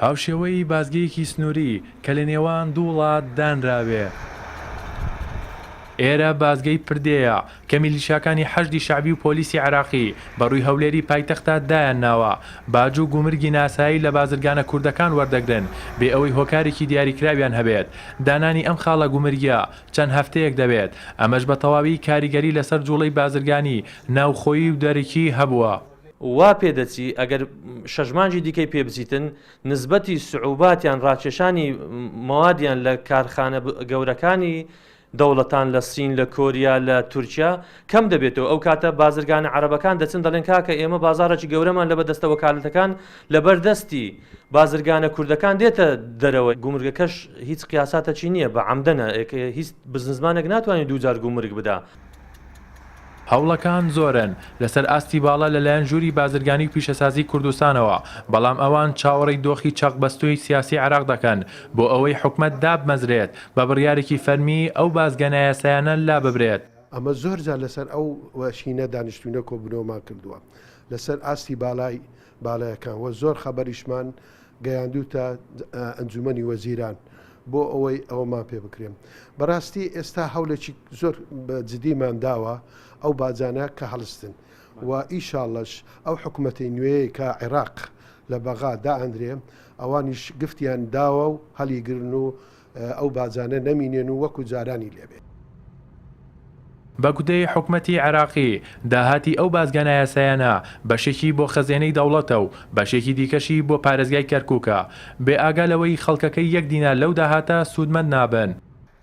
هاوشێوەی بازگەیەکی سنووری کە لە نێوان دوو وڵات دانراوێ. ئێرە بازگەی پردێیە کە میلیشاکانی حەشدی شەعبی و پۆلیسی عێراقی بە رووی هەولێری پایتەختە دایان ناوە. باج و گومرگی ناسایی لە بازرگانە کوردەکان وەردەگرن بێ ئەوەی هۆکارێکی دیاریکراویان هەبێت. دانانی ئەم خاڵە گومرگیە چەند هەفتەیەک دەوێت. ئەمەش بە تەواوی کاریگەری لەسەر جوڵەی بازرگانی ناوخۆیی و دەرەکی هەبووە. وا پێدەچی ئەگەر شەش مانگی دیکەی پێ بچیتن، نسبەتی سعوبات یان ڕاکێشانی موادیان لە کارخانە گەورەکانی دەوڵەتان لە سین، لە کۆریا، لە تورکیا کەم دەبێتەوە، ئەو کاتە بازرگانە عەرەبەکان دەچن دەڵێن کاکە ئێمە بازاڕێکی گەورەمان لەبە دەستە وەکالەتەکان لەبەر دەستی بازرگانە کوردەکان دێتە دەرەوە، گومرگەکەش هیچ قیاساتەکی نییە بە عەمدەنە، هیچ بزنسمانێک ناتوانێت دوو جار گومرگ بدا. هەوڵەکان زۆرن لەسەر ئاستی باڵا لەلایەن ژووری بازرگانی و پیشەسازی کوردستانەوە، بەڵام ئەوان چاوەڕێی دۆخی چەقبەستووی سیاسی عێراق دەکەن بۆ ئەوەی حکومەت دابمەزرێت، بە بڕیارێکی فەرمی ئەو بازگە نایاسایانە لاببرێت. ئەمە زۆرجار لەسەر ئەو شینە دانیشتووینە کۆبوونەوەمان کردووە لەسەر ئاستی باڵای باڵەکان و زۆر خەبەریشمان گەیاندووتە ئەنجومەنی وەزیران بۆ ئەوەی ئەوەمان پێ بکرێن بەڕاستی ئێستا هەولێکی زۆر جدیمان داوە ئەو باجانە کە هەڵستن و ئیشاڵش ئەو حکوومەتی نوێیە کە عێراق لە بەغا دائەندرێ ئەوانیش گفتیان داوە و هەلیگرن و ئەو باجانە نەمینێن و وەکو جارانی لێ بێ. بە گوتەی حکومەتی عێراقی، داهاتی ئەو بازگە نایاسایانە بەشێکی بۆ خەزێنەی دەوڵەتە و بەشێکی دیکەشی بۆ پارێزگای کەرکوکە، بێ ئاگا لەوەی خەڵکەکەی یەک دینار لەو داهاتە سوودمەند نابن.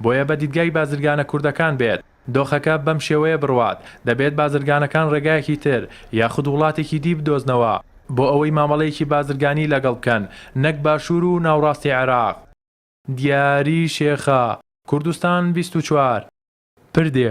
بۆیە بە دیدگای بازرگانە کوردەکان بێت دۆخەکە بەم شێوەیە بڕوات، دەبێت بازرگانەکان ڕێگایەکی تر یاخود وڵاتێکی دی بدۆزنەوە بۆ ئەوەی مامەڵەیەکی بازرگانی لەگەڵ بکەن نەک باشوور و ناوڕاستی عێراق. دیاری شێخە، کوردستان بیست و چوار، پردێ.